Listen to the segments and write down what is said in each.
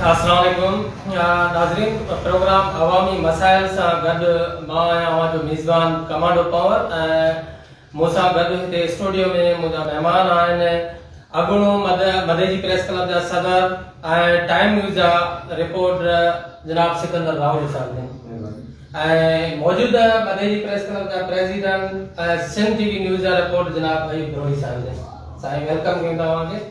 السلام عليڪم ناظرين پروگرام عوامي مسائل سان گڏ مان آهيان اوهان جو ميزبان ڪمانڊو پاور ۽ مون سان گڏ هتي اسٽوڊيو ۾ منهنجا مهمان آهن اڳوڻو مدي جي پريس ڪلب جا صدر ۽ ٽائيم نيوز جا رپورٽر جناب سڪندر راهوجا صاحب ۽ موجوده مدي جي پريس ڪلب جا president ۽ Sindh T V news جا رپورٽر جناب ايوب بروهي صاحب سائين ويلڪم ڪيون ٿا اوهان کي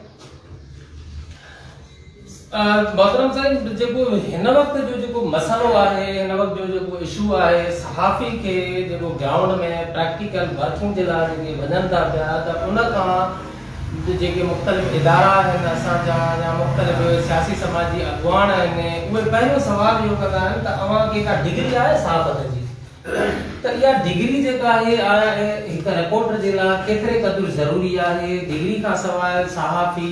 محترم سائين جيڪو هن وقت جو جيڪو مسئلو آهي هن وقت جو جيڪو اشو آهي صحافي کي جيڪو گرائونڊ ۾ پريڪٽيڪل ورڪنگ جي لاء جيڪي وڃن ٿا پيا ته ان کان جيڪي مختلف ادارا آهن اسان جا يا مختلف سياسي سماجي اڳواڻ آهن اهي پهريون سوال اهو ڪندا آهن ته اوهان کي ڪا ڊگري آهي صحافت جي ته اها ڊگري جيڪا آهي آيا هڪ رپورٽر جي لاء ڪيتري قدر ضروري آهي ڊگري کان سواء صحافي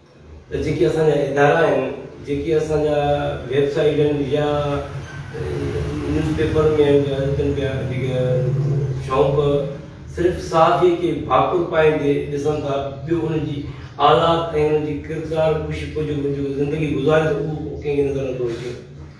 ته جيڪي اسان جا ادارا آهن، جيڪي اسان جا ويب سائيٽ آهن يا نيوز پيپر ۾ آهن جا اچن پيا جيڪي شوق صرف صحافي کي ڀاڪر پائيندي ڏسن ٿا ٻيو ان جي آلات ۽ ان جي ڪردار ڪشي پجو منجهو زندگي گذاري ته اهو ڪنهن کي نظر نٿو اچي.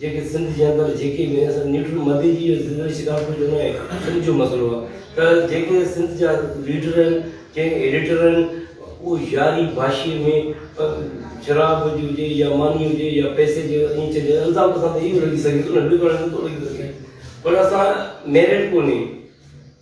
جيڪي سنڌ جي اندر جيڪي به اسان نيوٽرل مدي جي زندگي شڪارپور جو نه سنڌ جو مسئلو آ ته جيڪي سنڌ جا ليڊر آهن جي ايڊيٽر آهن اهو ياري باشي ۾ شراب جي هجي يا ماني هجي يا پئسي جي ائين چئجي الزام اسان تي اهو لڳي سگهي ٿو نه ٻيو ڪو نه ٿو لڳي سگهي پر اسان ميرٽ ڪونهي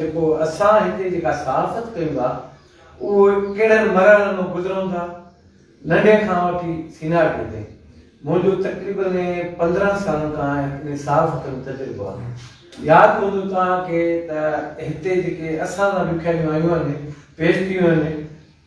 جيڪو اسان هتي جيڪا صحافت ڪيون ٿا اهي ڪهڙن مرحلن مان گذرون ٿا ننڍي کان وٺي سينارٽي تائين منهنجو تقريبن پندرهن سالن کان انهي صحافت ۾ تجربو آهي ياد هوندو توهان کي ته هتي جيڪي اسان لاء لکيايون آيون آهن پيش ٿيون آهن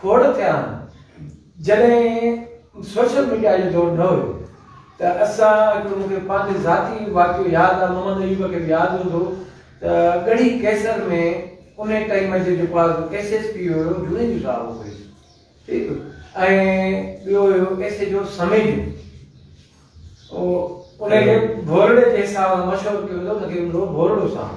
کوڙ ٿيا آهن. جڏهن سوشل ميڊيا جو دور نه هيو ته اسان هڪڙو مون کي پنهنجو ذاتي واقعو ياد آهي محمد ايوب کي به ياد هوندو ته ڳڙهي قيصر ۾ انهي ٽائيم جو جيڪو آهي سو ايس ايس پي هيو جنيجو صاحب هو پهرين ٺيڪ ۽ ٻيو هيو ايس ايچ او سميجو انهي کي ڀورڙي جي حساب سان مشهور ڪيو ويندو هو انهي کي هوندو هو ڀورڙو صاحب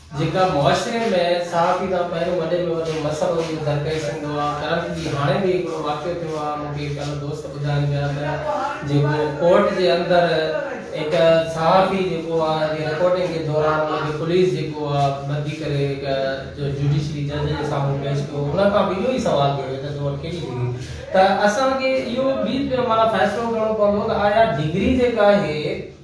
جيڪا معاشري ۾ صحافي سان پهريون وڏي ۾ وڏو مسئلو اهو درپيش ايندو آهي ڪرنٽ جي هاڻي به هڪڙو واقعو ٿيو آهي مون کي ڪل دوست ٻڌائين پيا ته جيڪو ڪورٽ جي اندر هڪ صحافي جيڪو آهي جي رپورٽنگ جي دوران ان کي پوليس جيڪو آهي ٻڌي ڪري هڪ جو جوڊيشري جج جي سامهون پيش ڪيو ان کان به اهو ئي سوال ٿيو ويو ته تو وٽ ڪهڙي ڊگري ته اسان کي اهو به معنيٰ فيصلو ڪرڻو پوندو ته آيا ڊگري جيڪا آهي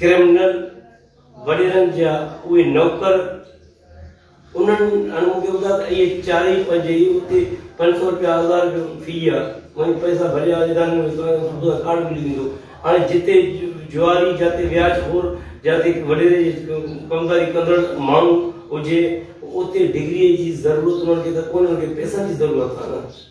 ڪرمنل وڏيرن جا اهي نوڪر انهن هاڻي مون کي ٻڌاء ته اهي چار ئي پنج ئي اتي پنج سؤ روپيا هزار روپيو في آ مون پئسا ڀريا اداري ۾ ويسو آهيان سوڌو آهي ڪارڊ ملي ويندو هاڻي جتي جواري جاتي وياج خور جاتي وڏيري جي ڪمداري ڪندڙ ماڻهو هجي اتي ڊگري جي ضرورت انهن کي ته ڪونهي انهن کي پئسن جي ضرورت آ نه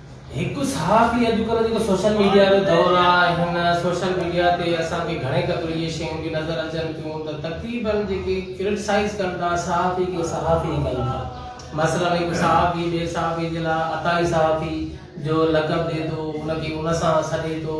هڪ صحافي اڄڪلهه جيڪو سوشل ميڊيا جو دور آ هن سوشل ميڊيا تي اسان کي گهڻي قدر اهي شيون به نظر اچن ٿيون ته تقريبا جيڪي ڪرٽسائز ڪن ٿا صحافي کي صحافي ئي ڪن ٿا مثلا هڪ صحافي ٻئي صحافي جي لاء عطائي صحافي جو لقب ڏي ٿو ان کي ان سان سڏي ٿو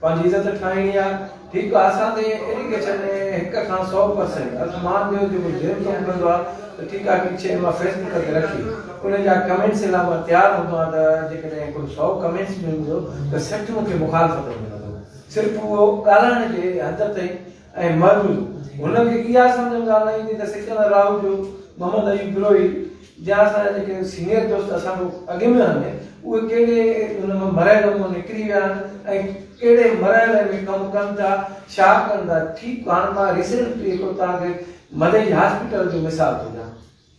پنهنجي عزت ٺاهڻي آهي ٺيڪ آهي اسان تي ايڊيڪيشن ۾ هڪ کان سؤ پرسينٽ الف مان ڏيو جيڪو جيم ڪم ڪندو آهي ته ٺيڪ آهي ٺيڪ شيء مان فيسبڪ تي رکي ان جا ڪمينٽس لاء مان تيار هوندو آهيان ته جيڪڏهن ڪو سؤ ڪمينٽس به هوندو ته سٺ مون کي مخالفت ۾ ملندو صرف اهو ڳالهائڻ جي حد تائين ۽ مروي هن کي اها سمجهه ڪا نه ايندي ته سڪندر راهو جو محمد ايوب بروهي جا اسان جا جيڪي سينيئر دوست اسان کان اڳ ۾ آهن اهي ڪهڙي هن مان مرئي نموني نڪري ويا آهن ۽ ڪهڙي مرئي لئي ۾ ڪم ڪن ٿا ڇا ڪن ٿا ٺيڪ هاڻ مان ريسينٽلي هڪڙو توهان کي مدئي هاسپيٽل جو مثال ٿو ڏيان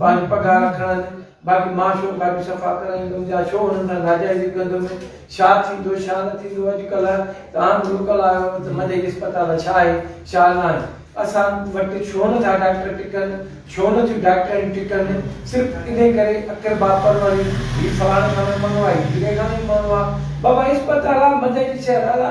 پنهنجي پگهار رکڻ آهن باقي مان شو کاڄي صفا ڪرائيندم جا شو انهن کان ناجائزي ڪندو ۾ شا ٿيندو شا نه ٿيندو اڄ ڪلهه ته عام لوڪل آيو ته مدي جي اسپتال شا آهي شا ناهي اسان وٽ شو نه ٿا ڊاڪٽر ٽڪن شو نه ٿيون ڊاڪٽريون ٽڪن صرف انهي ڪري اقربا پروڙي هي فلاڻي کان نه مڱوائي ڍيري کان نه مڱوا بابا اسپتال آ مدي جي شهر آ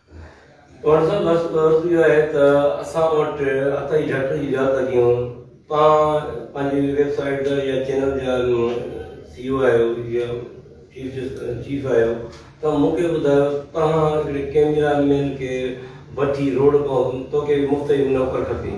پوڻ سان بس عرض اهو آهي ته اسان وٽ اٿائي جهٽ جي جا تڪيون توهان پنهنجي ويب سائيٽ تي يا چينل جا سي او آهيو يا چيف جسٽس چيف آهيو ته مون کي ٻڌايو توهان هڪڙي ڪيميرا مين کي وٺي روڊ ڪون توکي به مفت جي نوڪر کپي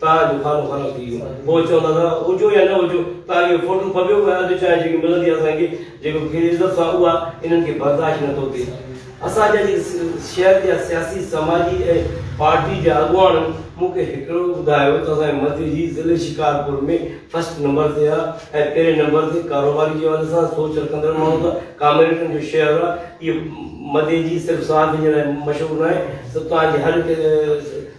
تاء جو خانو خراب ٿي ويو پوء چون ٿا ته هجو يا نه هجو تاء جو فوٽو ڦٻيو ۽ اڌ چانهه جيڪي ملندي آهي اسان کي جيڪو کير عزت سان اها انهن کي برداشت نه ٿو ٿئي اسان جا جيڪي شهر جا سياسي سماجي ۽ پارٽي جا اڳواڻ مون کي هڪڙو ٻڌايو ته اسان جي مزي جي ضلعي شڪارپور ۾ فرسٽ نمبر تي آ ۽ پهرين نمبر تي ڪاروباري جي حوالي سان سوچ رکندڙ ماڻهو ته ڪامريڊن جو شهر آ اهي مزي جي صرف صحافين جي لاء مشهور ناهي سو توهان جي هر هڪ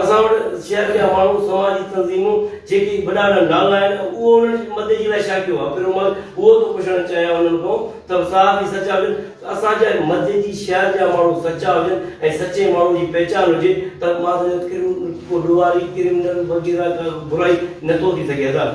اسان وٽ شهر جا ماڻهو، سماجي تنظيمون جيڪي وڏا وڏا نالا آهن اهو انهن جي مدد جي لاء شاگيو آهي پر مان اهو ٿو پڇڻ چاهيان انهن کان ته صاحب جي سچا هجن ته اسان جا مدد جي شهر جا ماڻهو سچا هجن ۽ سچي ماڻهو جي پهچان هجي ته مان سمجهان ٿو ڪو ڏوهاري، ڪرمنل وغيره ڪا برائي نه ٿو ٿي سگهي حضرات.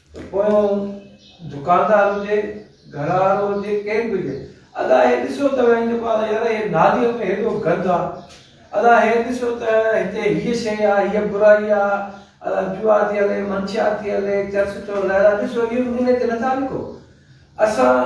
ته پوء هو دڪاندار هجي، گهر وارو هجي، ڪير به هجي. ادا هي ڏسيو ته وڃي جيڪو آندو يار هي ناليء ۾ هيڏو گند آ. ادا هي ڏسيو ته هتي هيء شيء آ، هيء برائي آ. ادا جوا ٿي هلي، منشيات ٿي هلي، چرس ٿيو هلائي. ادا ڏسيو اهو نالي تي نٿا لکو. اسان.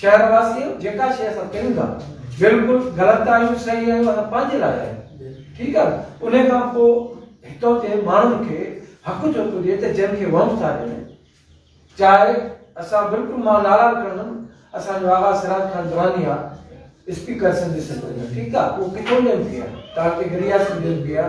شهر واسيو جيڪا شيء اسان ڪيون ٿا بلڪل غلط آهيون صحيح آهيون اسان پنهنجي لاء آهيون ٺيڪ آهي انهي کان پو هتو جي ماڻهن کي حق جو پجي ته جن کي وهم ٿا ڏين چاهي اسان بلڪل مان نارا ڪندم اسان جو آغا سراج خان دراني آ اسپيڪر سنڌ سنڌ ٺيڪ آهي هو ڪٿو ڏين پيا تاڪي گريا سنڌ ڏين پيا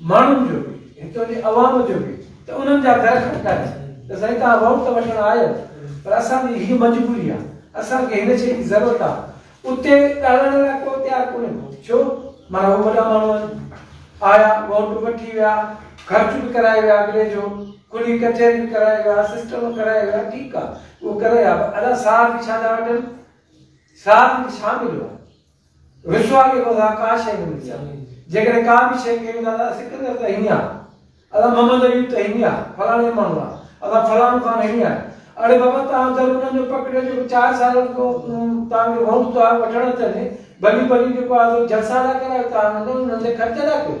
ماڻهن جو به هتو جي عوام جو به ته انهن جا گهر کٽڪاري ته سائين توهان ووٽ ته وٺڻ آيو پر اسان جي هي مجبوري آ اسان کي هن شئي جي ضرورت آ اتي ڳالهائڻ لاء ڪو تيار ڪونهي ڪو ڇو معنيٰ هو وڏا ماڻهو آهن آيا ووٽ به وٺي ويا خرچ به ڪرائي ويا اڳلي جو کلي ڪچهري به ڪرائي ويا سسٽم ڪرائي ويا ٺيڪ آ اهو ڪري آ پر ادا ساهه به ڇا ٿا وٺن ساهه به ڇا مليو آ رشوا کي ڪو ٿا ڪا شيء نه ملي آ جيڪڏهن ڪا به شيء ڪيون ٿا ته اسين ڪنر ته هينئي آ اسان محمد ايوب ته هينئي آ فلاڻي ماڻهو آ اسان فلاڻو خان هينئي آ اڙي بابا توهان در انهن جو پڪڙيو جيڪو چار سال اڳو توهان کي ووٽ توهان وٺڻ اچن ڀلي ڀلي جيڪو آ سو جلسا ٿا ڪرايو توهان انهن جي خرچ ٿا ڪيو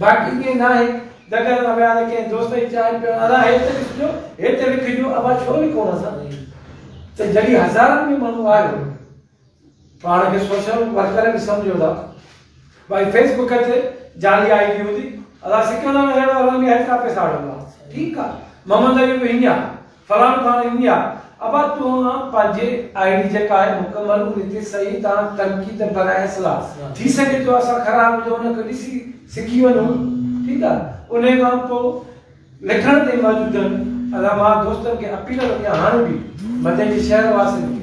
باقي ڪي ناهي دڳل نه ويا نه ڪنهن دوست جي چانهه پيو ادا هي ته ڏسجو هي ته لکجو ابا ڇو لکون اسان ته جڏهن هزارن ۾ ماڻهو آيو پاڻ کي سوشل ورڪر به سمجهو ٿا ڀائي فيس بڪ تي جعلي آئي ڊي هوندي ادا سڪندر نگر وارن کي هيترا پيسا آڻڻ ٿا ٺيڪ آ محمد ايوب هينيا فرحان خان انڊيا ابا توهان پنهنجي آئي ڊي جيڪا آهي مڪمل ان تي صحيح طرح تنقيد نه برائي اصلاح ٿي سگهي ٿو اسان خراب هجون ان کي ڏسي سکي وڃون ٺيڪ آهي انهي کان پو لکڻ تي موجودن علماء دوستن کي اپيل ڪندي آهيان هاڻي به مدني شهر واسين کي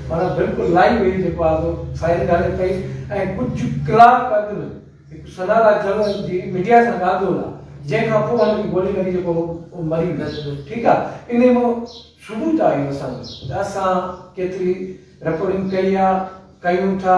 معنيٰ بلڪل لائي وئي جيڪو آزو فائرنگ هلي پئي ۽ ڪجهه ڪلاڪ اڳ ۾ هڪ سنارا جوڻ جي ميڊيا سان ڳالهه ٻولهه جنهن کان پوء هن کي گولي لڳي جيڪو هو مري ويس ٺيڪ آ انهي مان ثبوت آهي اسان جو ته اسان ڪيتري رپورٽنگ ڪئي آ ڪيون ٿا